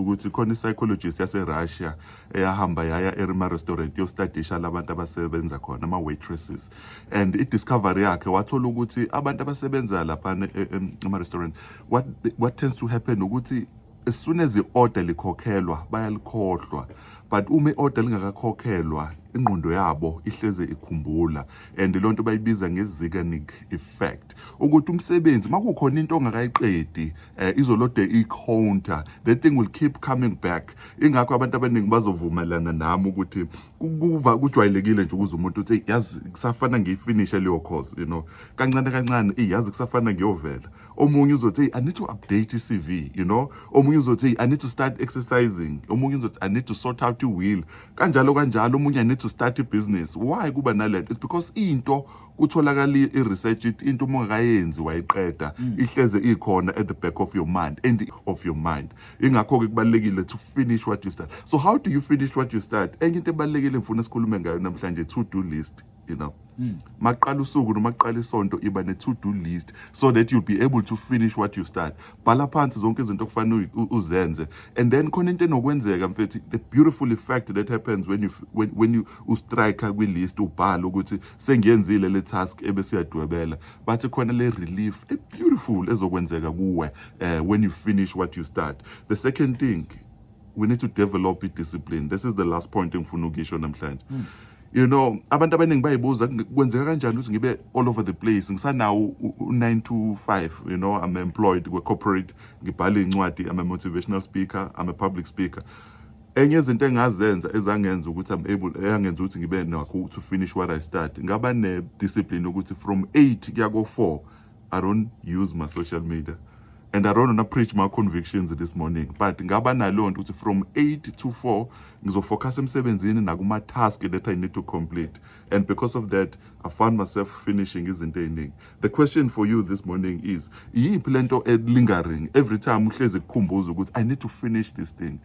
ukuthi khona i-psychologist yaserussia eyahamba yaya erima restaurant yostadisha labantu abasebenza khona ama-waitresses and i-discovery yakhe wathola ukuthi abantu abasebenza laphana e, e, ema-restaurant what, what tends to happen ukuthi as soon as i-order likhokhelwa bayalikhohlwa but uma i-order lingakakhokhelwa ingqondo yabo ihleze ikhumbula and loo nto bayibiza nge-ziganic effect ukuthi umsebenzi makukhona into ongakayiqedi eh, izolode i-counter the thing will keep coming back ingakho abantu abaningi bazovumelana nami ukuthi kuva kujwayelekile nje ukuze umuntu uthi yazi kusafana ngiyifinishe leyo course you know kancane kancane iyazi kusafana ngiyovela omunye uzothi i need to update i-cv you know omunye uzothi i need to start exercising omunye uzothi i need to sort out i-will kanjalo kanjalo omunye i need to start i-business why kuba nalento it's because into kutholakala i-research into uma ungakayenzi wayiqeda mm. ihleze ikhona at the back of your mind and of your mind ingakho-ke kubalulekile to finish what you start so how do you finish what you start enye into ebalulekile ngifuna sikhulume ngayo namhlanje to do list you know mm. maqala usuku noma kuqala isonto iba ne-to do list so that you'll be able to finish what you start bhala phansi zonke izinto okufanele uzenze and then khona into enokwenzeka mfethi the beautiful effect that happens when you when, when you ustrike kwi-list ubhala ukuthi sengiyenzile le task ebese uyadwebela bathi khona le relief e beautiful ezokwenzeka kuwe uh, when you finish what you start the second thing we need to develop i-discipline this is the last point engifuna ukisho namhlanje mm. you know abantu abaningi bayibuza kwenzeka kanjani ukuthi ngibe all over the place ngisanawo u-9 to 5 you know i'm employed kwe-corporate ngibhale incwadi i'm a motivational speaker i'm a public speaker enye izinto engazenza ezangenza ukuthi I'm able eyangenza ukuthi ngibe nakho to finish what I start ngaba ne discipline ukuthi from 8 kuya ko 4 I don't use my social media and I don't wanna preach my convictions this morning but ngaba nalo nto ukuthi from 8 to 4 ngizofocus emsebenzini nakuma task that I need to complete and because of that I found myself finishing izinto eziningi the question for you this morning is iyiphi lento e lingering every time uhlezi kukhumbuza ukuthi I need to finish this thing